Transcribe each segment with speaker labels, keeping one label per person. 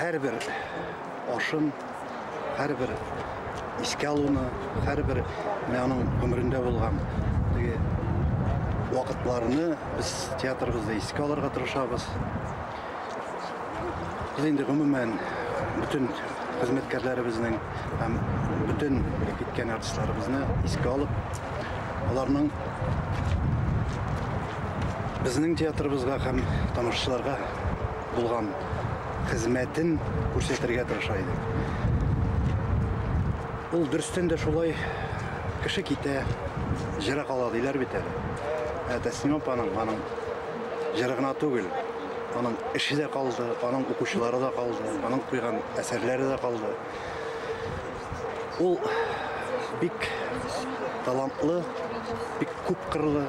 Speaker 1: Һәрбер ашын, һәрбер искә алуны, һәрбер менә аның гомерендә булган вакытларны без театрыбызда искә алырга тырышабыз. Без инде гомумән бөтен хезмәткәрләребезнең һәм бөтен киткән артистларыбызны искә алып, аларның Безнең театрыбызга һәм тамашачыларга булган хезмәтен күрсәтергә тырыша иде. Ул дөрестән дә шулай кеше китә, җыры кала диләр бит әле. Ә Тәслимә апаның аның җыры гына түгел, аның эше дә калды, аның укучылары да калды, аның куйган әсәрләре дә калды. Ул бик талантлы, бик күп кырлы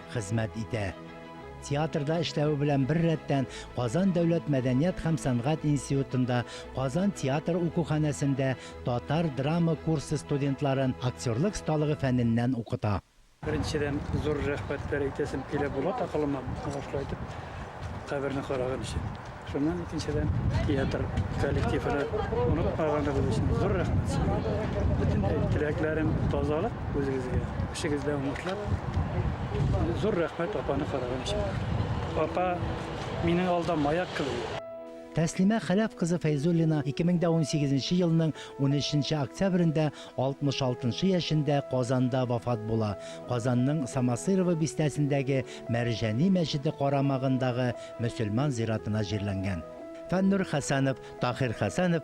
Speaker 2: хезмәт итә. Театрда эшләве белән беррәттән, Казан дәүләт мәдәният һәм сәнгать институтында, Казан театр укуханәсендә татар драма курсы студентларын актерлык осталыгы фәненнән укыта. Беренчедән,
Speaker 3: зур рәхмәтләр әйтәсем килә Булат акылыма, аңа шулай итеп, каберне караган өчен. Шуннан икенчедән театр коллективына онытмаганыбыз өчен зур рәхмәт сезгә. Бөтенләй теләкләрем тазалык үзегезгә, эшегездә уңышлар. Зур рәхмәт апаны караган өчен. Апа минең алда маяк кебек. Тәслимә
Speaker 2: Хәләф кызы Фәйзуллина 2018 елның 13 октябрендә 66 яшендә Казанда вафат була. Казанның Самосырово бистәсендәге Мәрҗани мәчете карамагындагы мөселман зиратына җирләнгән. Фәннур Хәсәнов, Таһир Хәсәнов,